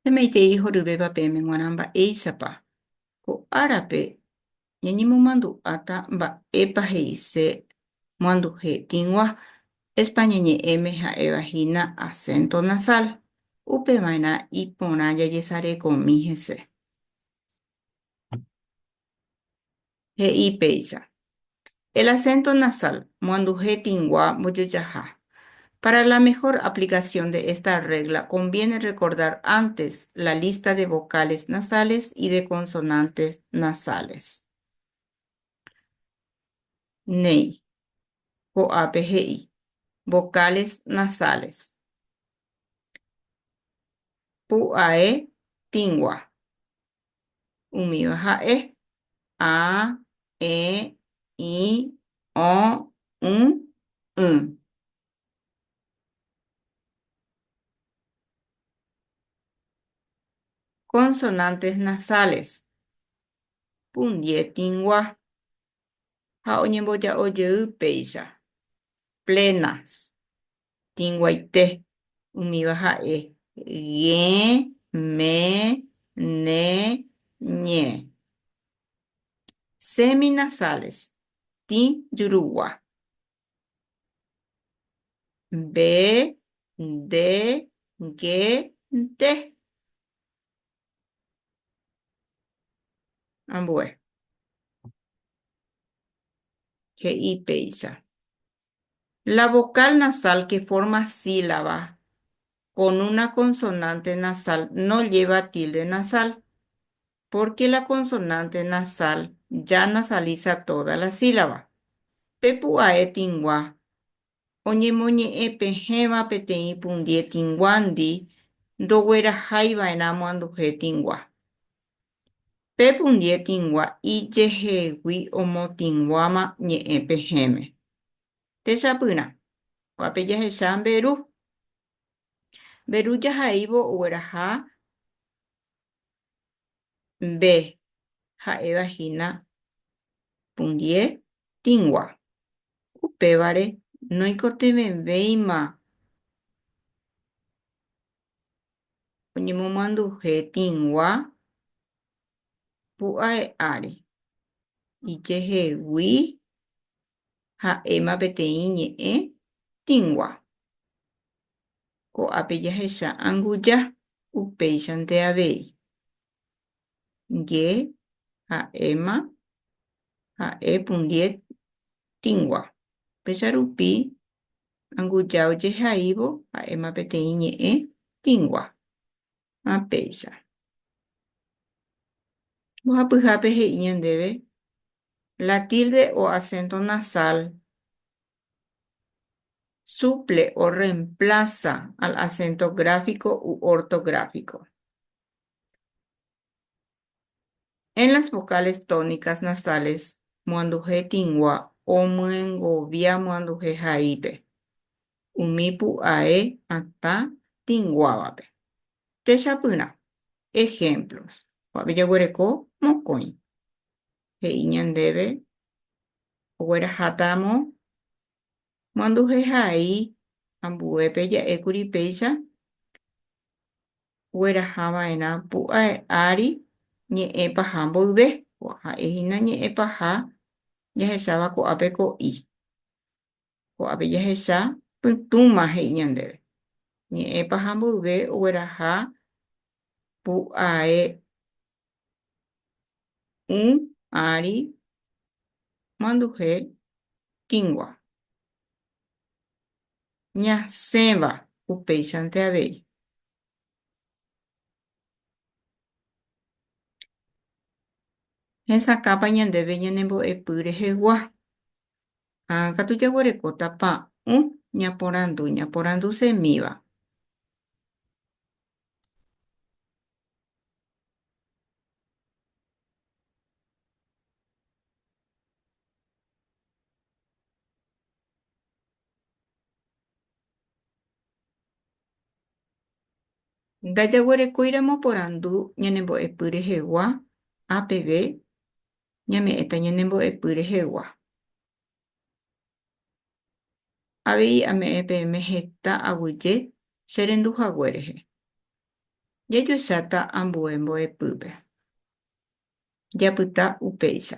Peme'ẽitei horyvéva peẽme g̃uarã mba'éichapa ko árape ñañemomandu'áta mba'épa he'ise moanduje tĩgua, España ñe'ẽme ha'éva hína acento nasal, upeva'erã iporã jajesarekomi hese. He'i péicha. El acento nasal, moanduhe tĩgua mbojojaha. Para la mejor aplicación de esta regla conviene recordar antes la lista de vocales nasales y de consonantes nasales. Néi ko'ápe he'i vocales nasales. Pu'ae tĩgua. Umíva ha'e, a, e, i, o, ũ, y. Consonantes nasales, pundie tĩgua ha oñemboja'o jey péicha, plenas. tĩguaite, umíva ha'e, g̃e, me, ne, ñe. Seminasales, tĩ jurugua, mbe, nde, nge, nte. Ambue. He'i péicha. La vocal nasal que forma sílaba con una consonante nasal no lleva tilde nasal, porque la consonante nasal ya nasaliza toda la sílaba. Pe pu'ae tĩgua oñemoñe'ẽ pehẽva peteĩ pundie tĩguandi ndogueraháiva'erã moanduhe tĩgua. Pe pundie tĩgua ijehegui omotĩguáma ñe'ẽ pehẽme. Techapyrã, kuápe jahecha mberu. Mberu jahaívo ogueraha mbe ha'éva hína pundie tĩgua. Upévare noikotevẽvéima oñemomanduhe tĩgua pu'ae ári, ijehegui ha'éma peteĩ ñe'ẽ tĩgua. Ko'ápe jahecha anguja upéichante avei, nge ha ema ha e pundie tingua. Péicha rupi anguja ojehaívo ha ema peteĩ ñe'ẽ tingua. Ha péicha. Mbohapyhápe he'i ñandéve la tilde o acento nasal suple o reemplaza al acento gráfico u ortográfico. En las vocales tónicas nasales moanduhe tĩgua omyengovia moanduhe haípe umi pu'ae atã tĩguávape. Techapyrã ejemplos. Ko'ápe jaguereko mokõi. He'i ñandéve oguerahátaramo moanduhehai ambuépe ja'ékuri péicha oguerahava'erã pu'ae ári ñe'ẽ paha mboyve, ha'e hína ñe'ẽ paha jahecháva ko'ápe ko'i. Ko'ápe jahecha pytũma he'i ñandéve. Ñe'ẽ paha mboyve ogueraha pu'ae Un ári manduhe tĩgua. Ñasẽva upéichante avei. Hesakãpa ñandéve ñanembo'epy rehegua. Ha katu jaguerekóta pa'ũ ñaporandu, ñaporandu semíva. Ndajaguerekóiramo porandu ñanembo'epy rehegua, A peve, ñame'ẽta ñanembo'epy rehegua. Avei ame'ẽ peẽme heta aguyje che rendu hague rehe. Jajuecháta ambue mbo'epýpe. Japyta upéicha.